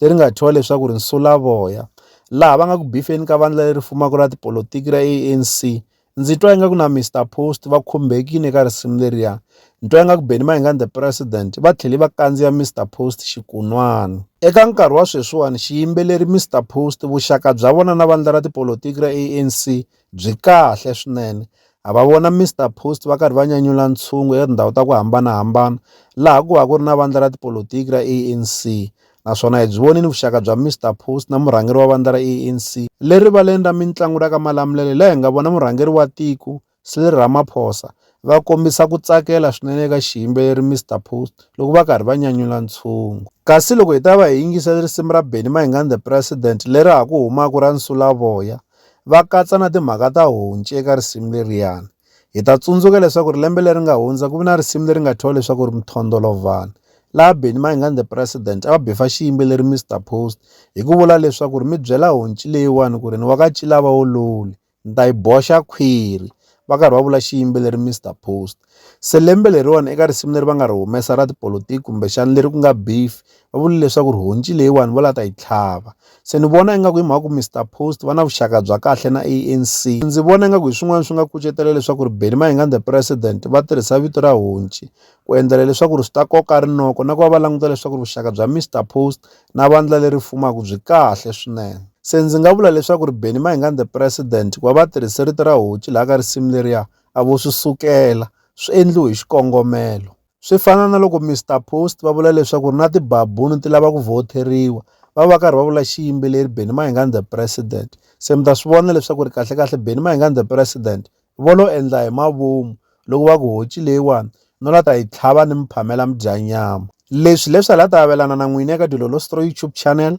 leri nga thyiwa leswaku ri nsulavoya laha va nga ku bifeni ka vandla leri fumaka ra tipolotiki ra ANC ndzi twa ingaku na Mr Post va khumbekile ka risimu leriya ni twa ingaku Benny Mayengani the president va tlhele va kandziya Mr Post xikunwana eka nkarhi wa sweswiwani xiyimbeleri Mr Post vuxaka bya vona na vandla ra tipolotiki ra ANC byi kahle swinene ha va vona Mister Post va karhi va nyanyula ntshungu eka tindhawu ta ku hambanahambana laha ku va ku ri na vandla ra tipolotiki ra ANC naswona hi byi vonile vuxaka bya Mister Post na murhangeri wa vandla ra ANC le rivaleni ra mitlangu ra ka Malamulele laha hi nga vona murhangeri wa tiko Cyril Ramaphosa va kombisa ku tsakela swinene eka xiyimbeleri Mister Post loko va karhi va nyanyula ntshungu kasi loko hi ta va hi yingisela risimu ra Benny Mayengani the President leri ha ku humaka ra Nsulavoya va katsa na timhaka ta honci eka risimu leriyani hi ta tsundzuka leswaku ri lembe leri nga hundza ku vi na risimu leri nga thyiwa leswaku ri mthondolovhani laha beni maingani the president a va bifa xiyimbeleri mr post hi ku vula leswaku ri mi byela honci leyiwani ku ri ni wa ka cilava wo luli ni ta yi boxa khwiri va karhi va vula xiyimbeleri mr post Se lembe leriwani eka risimu leri va nga ri humesa ra tipolotiki kumbexana leri ku nga beef va vule leswaku ri honci leyiwani va la ta yi tlhava se ni vona ingaku hi mhaka ku Mister Post va na vuxaka bya kahle na ANC ndzi vona ingaku hi swin'wana swi nga kucetela leswaku ri Benny Mayengani the president va tirhisa vito ra honci ku endlela leswaku ri swi ta koka rinoko na ku va va languta leswaku ri vuxaka bya Mister Post na vandla leri fumaka byi kahle swinene se ndzi nga vula leswaku ri Benny Mayengani the president ku va va tirhise rito ra honci laha ka risimu leriya A vo swi sukela, swi endliwe hi xikongomelo. Swi fana na loko Mister Post va vula leswaku ri na tibabunu ti lava ku vhoteriwa, va va karhi va vula xiyimbeleri Benny Mayengani the President. Se mi ta swi vona leswaku ri kahlekahle Benny Mayengani the President vo lo endla hi mavomu loko va ku honci leyiwani no la ta yi tlhava ni mi phamela mi dya nyama. Leswi leswi a la ta avelana na n'wina eka Dilolo Stroy YouTube channel